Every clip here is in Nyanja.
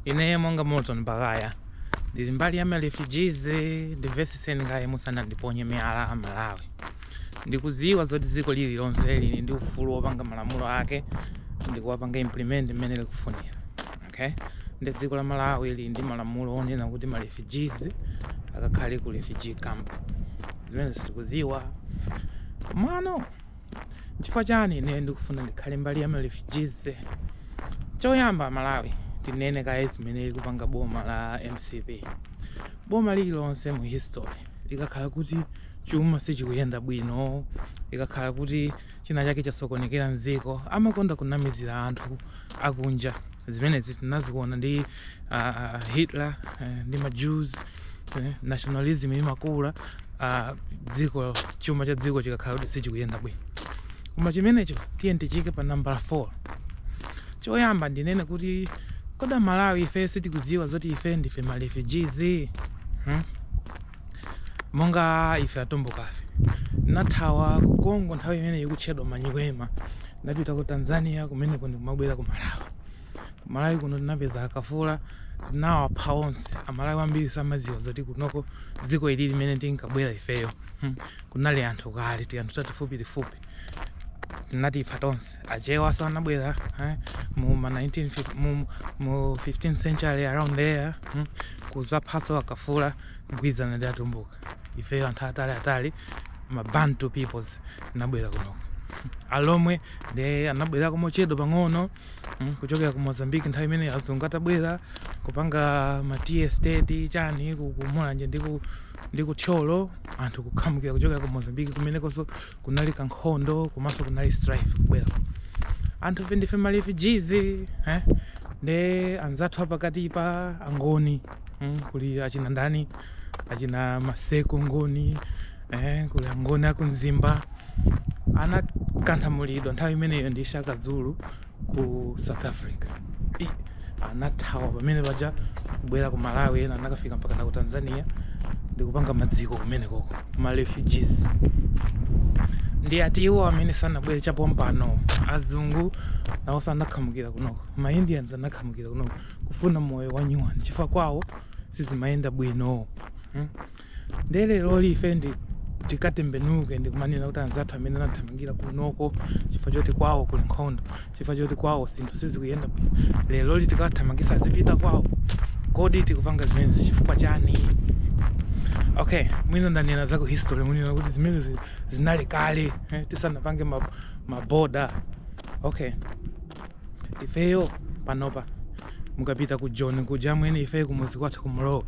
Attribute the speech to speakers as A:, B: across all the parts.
A: Ineyo monga Morton Baghaya ndili mbali ya marefugees, ndimvetsetseni kaye musanandiponye miyala a Malawi. Ndikudziwa zoti dziko lililonse lili ndi ufulu wopanga malamulo ake ndikuwapanga implement mmene likufunira okay? Ndi dziko la Malawi lili ndi malamulo onena kuti marefugees akakhale ku refugee camp, zimenezo tikudziwa komano Chifukwa chani ineyo ndikufuna ndikhale mbali ya ma refugees? Choyamba aMalawi tinene kaye zimene likupanga boma la mcp. Boma lililonse mu history likakhala kuti chuma sichikuyenda bwino, likakhala kuti china chake chasokonekera mdziko, amakonda kunamizira anthu akunja. Zimenezi tinaziona ndi uh, Hitler uh, ndi ma Jews Eh, nationalism imakula uh, dziko chuma cha dziko chikakhala kuti sichikuyenda bwino koma chimenecho tiye tichike pa nambala 4 choyamba ndinene kuti kodi amalawi ife sitikuziwa zoti ife ndife ma refugees hmm? monga ife atumbukafe tinathawa ku congo nthawi imene ikutchedwa manyiwema tinapita ku tanzania kumeneko ndikumabwera ku malawi Kumalawi kuno tinapeza akafula tinawapha onse amalawi ambiri samaziwa zoti kunoko dziko ili mmene tinkabwera ifeyo hmm. kunali anthu kale tianthu tatifupi tifupi tinatipha tonse achewa sanabwera eh? mu ma 19 mu, mu 15 century around there hmm. kuzaphanso akafula kugwirizana ndi atumbuka ifeyo anthu atali atali ma bantu peoples tinabwera kunoko hmm. alomwe nde anabwerako mochedwa pang'ono mm, kuchokera ku mozambique nthawi imene azungu atabwera kupanga ma tea estate chani ku ku mulanje ndi ku- ndi ku thyolo anthu kukhamukira kuchokera ku mozambique kumenekonso kunali kankhondo komanso kunali strife kubwera anthufe ndife ma refugees eh? ndi anzathu apakatipa angoni mm, kuli achina ndani achina maseko ngoni eh, kuli angoni aku mzimba anakanthamulidwa nthawi imeneyo ndi shaka zulu ku south africa I, anathawa pamene paja kubwera ku malawi ena anakafika mpaka na ku tanzania ndikupanga madziko kumenekoko ma refugees ndi ati iwo amene anabwera chapompano azungu nawonso anakhamukira kunoko ma indians anakhamukira kunoko kufuna moyo wa nyuwani chifukwa kwawo sizimayenda bwino hmm? nde lero ife nde tikatembenuke ndi kumanena kuti anzathu amene anathamangira kunoko chifukwa choti kwawo kuli nkhondo chifukwa choti kwawo zinthu sizikuyenda bwino leroli tikawathamangitse azipita kwawo kodi tikupanga zimenezi chifukwa chani okay mwina ndanena za ku history munena kuti zimenezi zinali kale eh, tisanapange ma- maboda okay ifeyo panopa mukapita ku joni kuja amwene ife kumuzi kwathu ku Muloza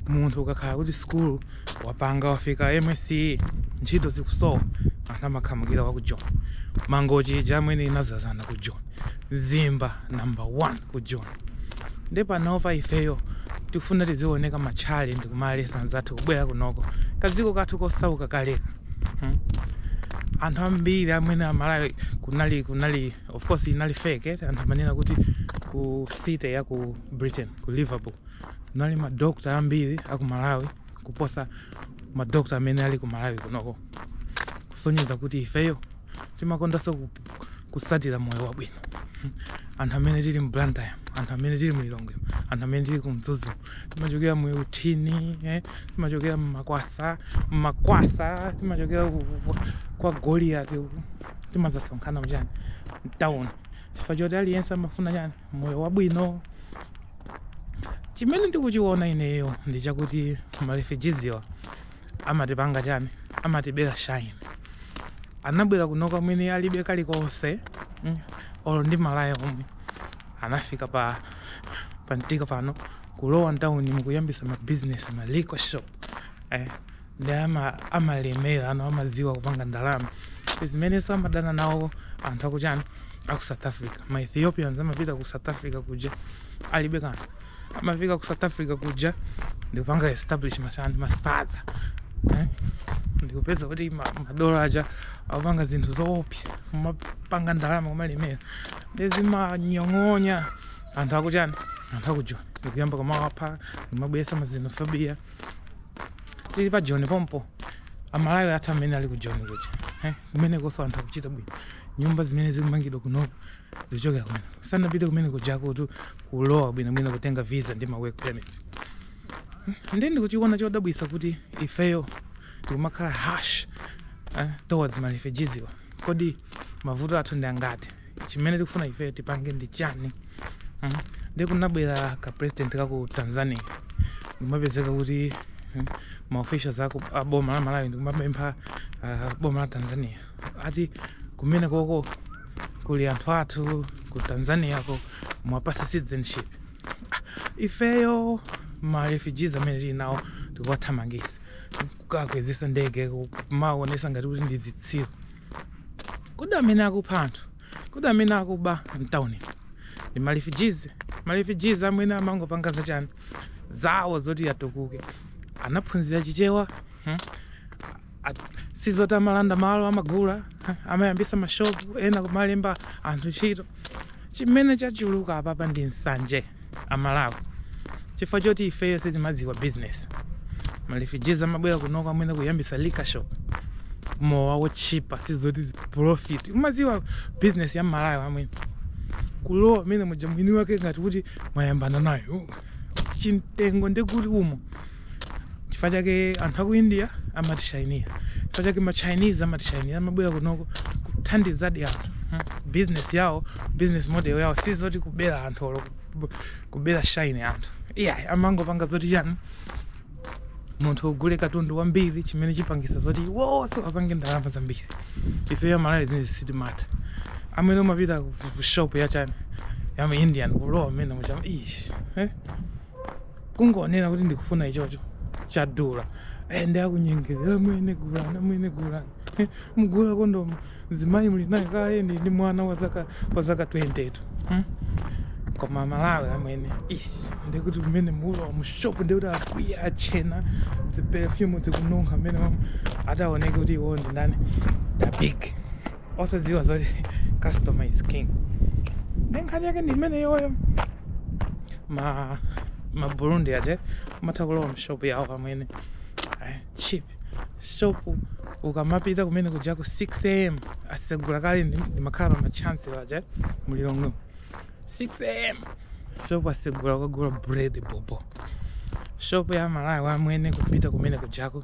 A: munthu ukakhala kuti sikulu wapanga wafika MSCE ntchito zikusowa anthu amakhamukira wa ku joni mangochi ija amwene inazazana ku joni zimba number one ku joni ndi panopa ifeyo tikufuna tizioneka mashali ndikumalesa anzathu kubwera kunoko kadziko kathu kosauka kaleka hmm? anthu ambiri amene amalawi kunali kunali of course inali fake eh? anthu amanena kuti ku city ya ku britain ku liverpool kunali madokta ambiri aku malawi kuposa madokta amene ali ku malawi kunoko kusonyeza kuti ifeyo timakondanso ku- kusatira moyo wabwino anthu amene tili mu blantyre anthu amene tili mu lilongwe anthu amene tili ku mzuzu timachokera mu Utale eh? timachokera mu makwasa mu makwasa timachokera ku- ku- kwa goliati uku timadzasonkhana muchani mtawuni chifukwa choti aliyense amafuna chani moyo wabwino chimene ndikuchiona ineyo ndi chakuti marefujiziwa amatipanga chani amatibera shine anabwera kunoko amwene alibe kalikonse mm, olo ndi malaya omwe anafika pamtika pano kulowa mtawuni nkuyambisa mabizinesi ma liquor shop eh, nde amalemera amaziwa kupanga ndalama zimeneso amadana nawo anthu akuchani aku south africa ma ethiopians amapita ku south africa kuja alibe kanthu amafika ku south africa kuja ndikupanga establish machani maspaza eh? ndikupeza kuti madola aja apanga zinthu zoopsa kumapanga ndalama kumalemera ndezimanyong'onya anthu akuchani anthu aku joni ndikuyamba kumawapha kumabwesa ma xenophobia tili pa joni pompo amalawi athu amene ali ku joni kuja eh, kumenekoso anthu akuchita bwino nyumba zimene zikumangidwa kunoko zichokera kumene sanapite kumene kujako kuti kulowa bwinobwino kutenga visa ndi ma work permit hmm, nde ndikuchiona chodabwisa kuti ifeyo tikumakhala harsh eh, towards marefujiziwa kodi mavuto athu ndi angati chimene tikufuna ifeyo tipange ndi chani mm? nde kunabwera ka president ka ku tanzania ndimapezeka kuti mm, ma officials aku a boma la malawi ndikumapempha ah, boma la tanzania ati kumene koko kuli anthu athu ku tanzania ko muwapase citizenship Ah, ifeyo ma refugees amene tili nawo tikuwathamangisa kuwakwezesa ndege kumaonesa ngati kuti ndi zitsiru Kodi amene akupha anthu, kodi amene akuba mtauni ndi marefugees? Marefugees amene amangopanga zachani zawo zoti atukuke, anaphunzira Chichewa hmm? sizoti amalanda malo amagula amayambisa mashopu ena kumalemba anthu ntchito Chimene chachuluka apapa ndi nsanje a Malawi chifukwa choti ifeyo sitimadziwa business. Ma refugees amabwera kunoko amene kuyambisa liquor shop amwene. Mowa wotchipa sizoti profit. Umadziwa business ya m'Malawi amwene kulowa mmenemuja mwini wake ngati kuti mwayambana nayo. Chimtengo ndekuti umo chifukwa chake anthu aku india amatishayinira chifukwa chake ma chinese amatishayinira amabwera kunoko kuthandizadi anthu hmm? business yawo business model yawo si zoti kubera anthu olo kuba shine anthu iyayi amangopanga zoti chani munthu ugule katundu wambiri chimene chipangisa zoti onse apange ndalama zambiri ifeyo amalawi zimene sitimatha amwene umapita ku shop ya chani ya mu indian kulowa mmenemuja amwene ish eh? kungoonera kuti ndikufuna ichocho chadula eh, ndi akunyengerera eh, amwene gulani amwene gulani eh, mgula kondomu mzimayi muli naye kale ndi ndi mwana wa zaka wa zaka 20 tu hmm? koma amalawi amwene ish ndikuti kumene mulowa mushopu ndikuti akwiya achena dziperefyumu dzikununkha mmenemo ataoneke kuti iwo ndi ndani da big osadziwa zoti customer is king ndi nkhani yake ndi imeneyoyo ma ma burundi aja umatha kulowa mshopu yawo amwene Eh, cheap shopu ukamapita kumene kujako 6 am asegula kale ndi- ndimakhala kwa Mchesi paja mu Lilongwe 6 am shopu asegula ukagula bread bobo shopu ya malawi amwene kupita kumene kujako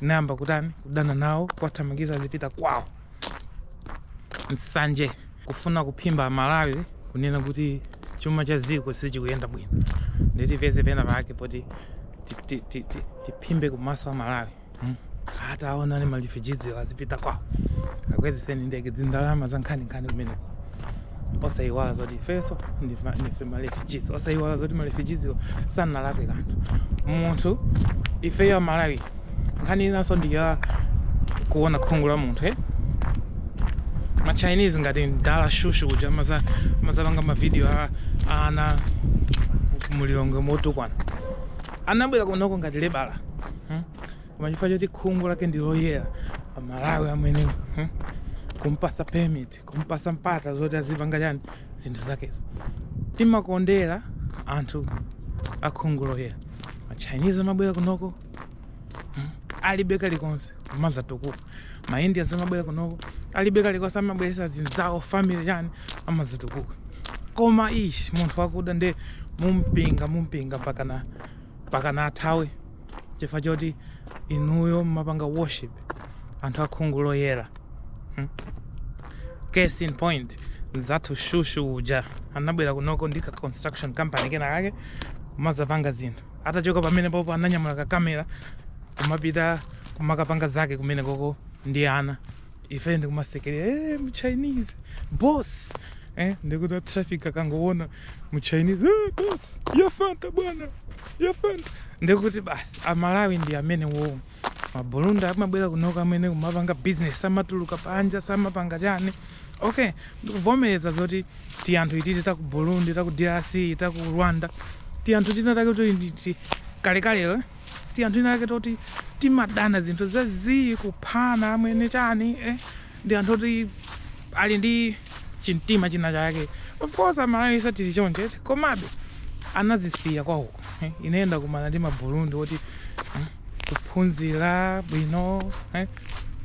A: nayamba kutani kudana nawo kuwathamangitsa azipita kwawo nsanje kufuna kuphimba amalawi kunena kuti chuma cha dziko sichikuyenda bwino nde tipeze pena pake poti tiphimbe kumaso amalawi hmm? atawauza marefugeeswo azipita kwawo akwezeseni ndege dzindalama za nkhaninkhani kumeneko osaiwala zoti ifenso ndife marefugees osaiwala zoti marefugeeswo sanalakwe kanthu munthu ifeyo amalawi nkhani inanso ndiya kuona khungu la munthu eh? machinese ngati mdala shushu kuja amazapanga mavidiyo a ana mu Lilongwe motukwana anabwera kunoko ngati lebala hmm? koma chifukwa choti khungu lake ndi loyera amalawi amwene hmm? kumpasa permit kumpasa mpata zoti azipanga chani zinthu zakezo timakondera anthu akhungu loyera machinese amabwera kunoko hmm, alibe kalikonse kumaza tukuka maindians amabwera kunoko alibe kalikonse amabweresa azinzawo family chani amazatukuka koma ishi munthu wakuda nde mumupinga mumupinga pakana pakana athawe chifukwa choti inuyo mumapanga worship anthu akhungu loyera hmm? case in point nzathu shushu uja anabwera kunoko ndi ka construction company kena kake kumazapanga zinthu atachoka pamene popo ananyamula kakamera kumapita kumakapanga zake kumene koko ndi ana ife ndikumasekerera eh, mu chinese boss eh, ndikuti traffic akangoona mu chinese eh, boss yafanta bwana yafanta ndikuti basi amalawi ndi amene wowo mabulunda amabwera kuno amwene kumapanga business samatuluka panja samapanga chani okay ndikuvomereza zoti ti anthu ititi taku burundi taku drc taku rwanda ti anthu tina take kuti kalekale ti anthu tina take toti timadana zinthu za zii kuphana amwene chani eh? ndi anthu oti ali ndi chimtima china chake of course amalawi tili choncho eti? komabe anazisiya kwawo eh? ineyo ndakumana ndi maburundi oti eh? kuphunzira bwino eh?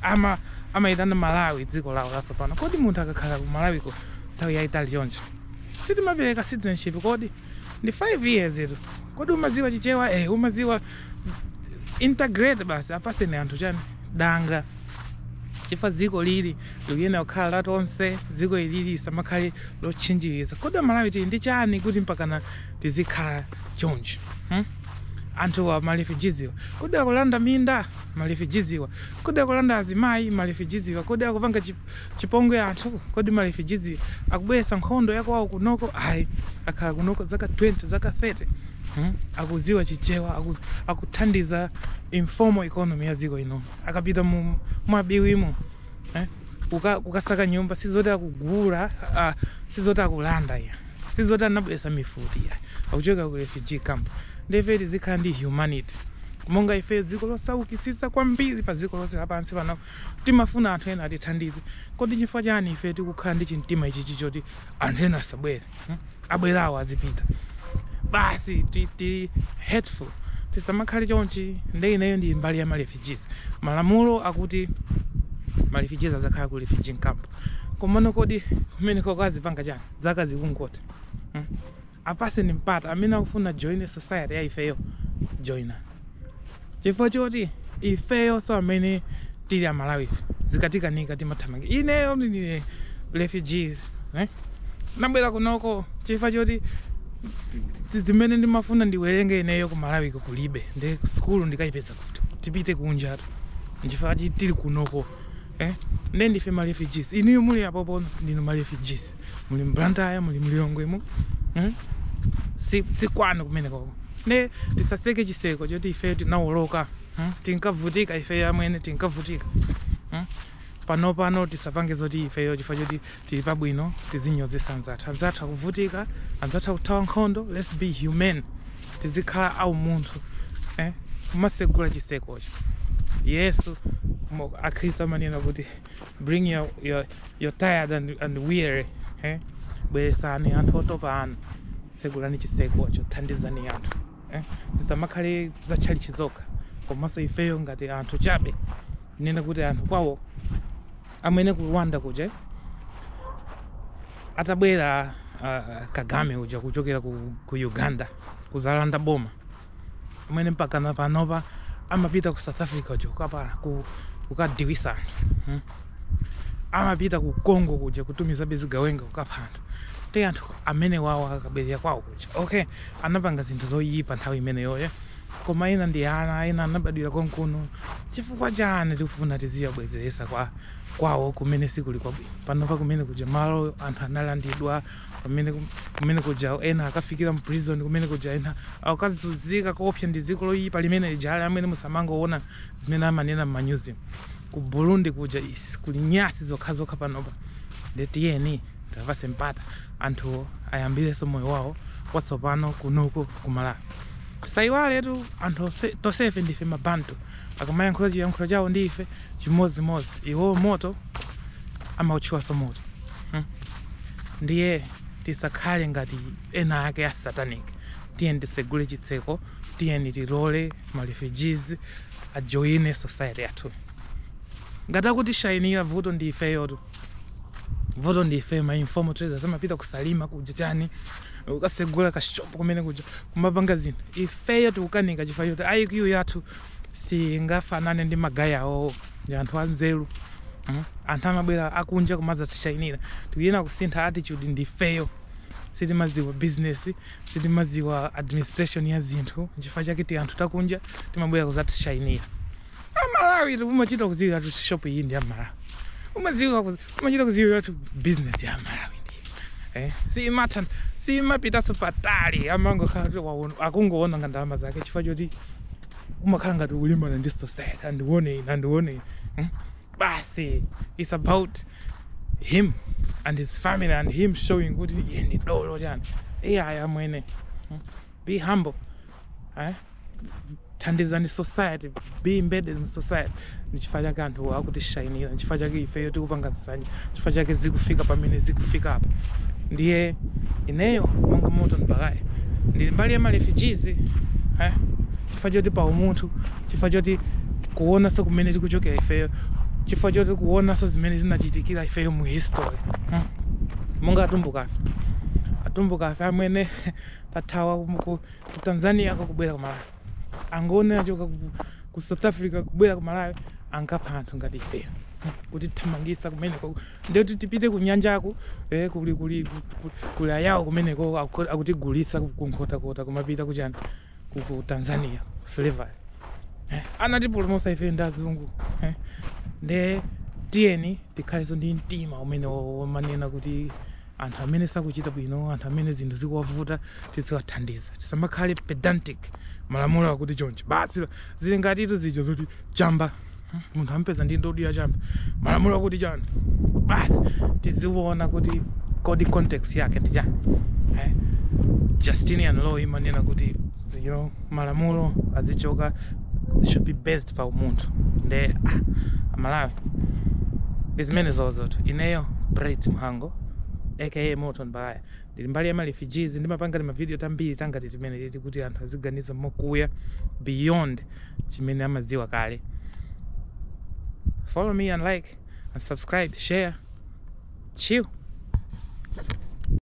A: ama amayitana malawi dziko lawo lasopano kodi munthu akakhala ku malawiko nthawi yayitali choncho sitimapereka citizenship kodi ndi 5 years tu kodi umadziwa chichewa eh umadziwa integrate basi apaseni anthu chani danga chifukwa dziko ilili likuyenera kukhala la tonse dziko ilili lisamakhale lotchinjiriza kodi amalawi tili ndi chani kuti mpakana tizikhala chonchi hmm? anthuwa ma refugees wa kodi akulanda minda ma refugees wa kodi akulanda azimayi ma refugees wa kodi akupanga chi- Chipongwe anthu kodi ma refugees akubweretsa nkhondo yakwawo kunoko ayi akhala kunoko zaka 20 zaka 30 hmm? akuziwa chichewa aku, akuthandiza informal economy ya dziko ino akapita mu Bwabiwimo eh? Kuka, kukasaka nyumba sizoti akugula uh, sizoti akulanda ya sizoti anabweretsa mifuti ya akuchoka ku refugee camp nde ife tizikhala ndi humanity monga ife dziko losaukitsitsa kwambiri pa dziko lonse lapansi pano Timafuna anthu ena atithandize. Kodi chifukwa chani ife tikukhala ndi chimtima ichichi choti anthu ena asabwere? Hmm? Abwerawo azipita. Basi ti, ti hateful. Tisamakhale chonchi. Nde ineyo ndi mbali ya ma refugees. Malamulo akuti ma refugees azakhala ku refugee camp. Komano kodi kumeneko kwa azipanga chani? Zaka zikungotha. Hmm? Apaseni mpata amene akufuna join society ya ifeyo ajoine chifukwa choti ifeyonso amene tili amalawi zikatikanika timathamangira ineyo ndine refugee eh? ndinabwera kunoko chifukwa choti zi- zimene ndimafuna ndiwerenge ineyo kumalawiko kulibe ndi sukulu ndikayipeza kuti tipite kunjatu nchifukwa chi- tili kunoko eh? nde ndife ma refugees inuyo muli apopo ndinu ma refugees muli mBlantyre muli mLilongwe mu hmm? si, si kwanu kumene koko nde tisatseke chitseko choti ife tinawoloka hmm? tinkavutika ife amwene tinkavutika hmm? pano pano tisapange zoti ifeyo chifukwa choti tili pabwino tizinyozetsa anzathu anzathu akuvutika anzathu akuthawa nkhondo let's be human tizikhala a umunthu eh? kumatsegula chitsekocho yesu mo- akhristu amanena kuti bring your, your, your tired and, and weary eh? bweretsani anthu otopa anu tsegulani chitsekocho thandizani anthu eh? zisamakhale za tchalitchi zokha komanso ifeyo ngati anthu chabe nena kuti anthu kwawo amwene ku Rwanda kuja atabwera uh, Kagame uja kuchokera ku, ku Uganda kudzalanda boma amwene mpakana panopa amapita ku South Africa uja kukapa- ku- kukadiwisa anthu hmm? amapita ku Congo kuja kutumizabe zigawenga kukapha anthu te anthu amenewawo akabwerera kwawo kuja okay anapanga zinthu zoyipa nthawi imeneyoyo koma ena ndi ana ena anabadwira konkuno chifukwa chani tikufuna tiziwabwezeretsa kwa kwawo kumene sikuli kwabwino panopa kumene kuja malo anthu analandidwa pamene ku- kumene kuja ena akafikira mu prison kumene kuja ena akazunzika koopsa ndi dziko loyipa limene lijali amwene musamangoona zimene amanena m'manyuzi ku Burundi kuja is kuli nyasi zokhazokha panopa nde tiyeni tiwapatse mpata anthuwo ayambirenso moyo wawo watsopano kunoko ku Malawi tisayiwaletu anthu onse- tonsefe ndife mabantu akamayankhula chiyankhulo chawo ndi ife chimodzimodzi iwo moto amawutchulanso moto hmm. ndiye tisakhale ngati ena ake a satanic tiyeni titsegule chitseko tiyeni tilole ma refugees ajoine society yathu ngati akutishayinira vuto ndi ifeyotu vuto ndi ife ma informal traders amapita ku Salima kuja chani kukatsegula kashopu kumene kuja kumapanga zinthu ifeyo tikukanika chifukwa choti IQ yathu singafanane ndi magaya awowo ndi anthu anzeru mm? anthu amabwera akunja kumadzatishainira tikuyena kusintha attitude ndi ifeyo sitimadziwa business sitimadziwa administration ya zinthu nchifukwa chake ti anthu takunja timabwera kudzatishainira aMalawi umachita kudziwira kuti shop iyi ndi ya aMalawi umadziwa kuzi- umachita kudziwira kuti business ya aMalawi ndi eh? siimatan siimapitanso patali amangokhala kuti waona- akungoononga ndalama zake chifukwa choti umakhala ngati ukulimbana ndi society andione ine andione ine hmm? basi it's about him and his family and him showing kuti iye ndi dolo chani ayi amwene hmm? be humble eh? thandizani society be embedded in society Ndi chifukwa chake anthu akutishainira, nchifukwa chake ifeyo tikupanga nsanje, chifukwa chake zikufika pamene zikufikapa. Ndiye ineyo monga Moto Mbaya ndili mbali ya marefugees eh, chifukwa choti pa umunthu, chifukwa choti kuonanso kumene tikuchokera ifeyo, chifukwa choti kuonanso zimene zinachitikira ifeyo mu history hmm. monga atumbukafe atumbukafe amene tathawa ku ku- ku Tanzania kakubwera ku Malawi angoni achoka ku, ku south africa kubwera ku malawi ankapha anthu ngati ifeyo kutithamangitsa kumeneko nde kuti tipite ku nyanjako eh, kuli kuli ku- kuli ayawo kumeneko aku- akutigulitsa ku- ku nkhotakota kumapita kuchani ku, ku tanzania slavery eh, anatipulumutsa ife ndi azungu eh, nde tiyeni tikhalenso ndi mtima umene wo- womanena kuti anthu amene sakuchita bwino anthu amene zinthu zikuwavuta tiziwathandiza tisamakhale pedantic malamulo akuti choncho basi zili ngatitu zija zoti chamba hmm, munthu ampeza ndi ndudu ya chamba malamulo akuti chani basi tiziona kuti kodi context yake ndi chani eh? justinian law imanena kuti you know, malamulo azichoka should be based just pa umunthu nde ah, amalawi ndi zimene zozotu ineyo bright mhango aka moto mbaya ndili mbali ya marefugees ndimapanga timavidiyo tambiri tangati timeneti ti kuti anthu aziganiza mokuya beyond chimene amadziwa kale follow me and like and subscribe share chill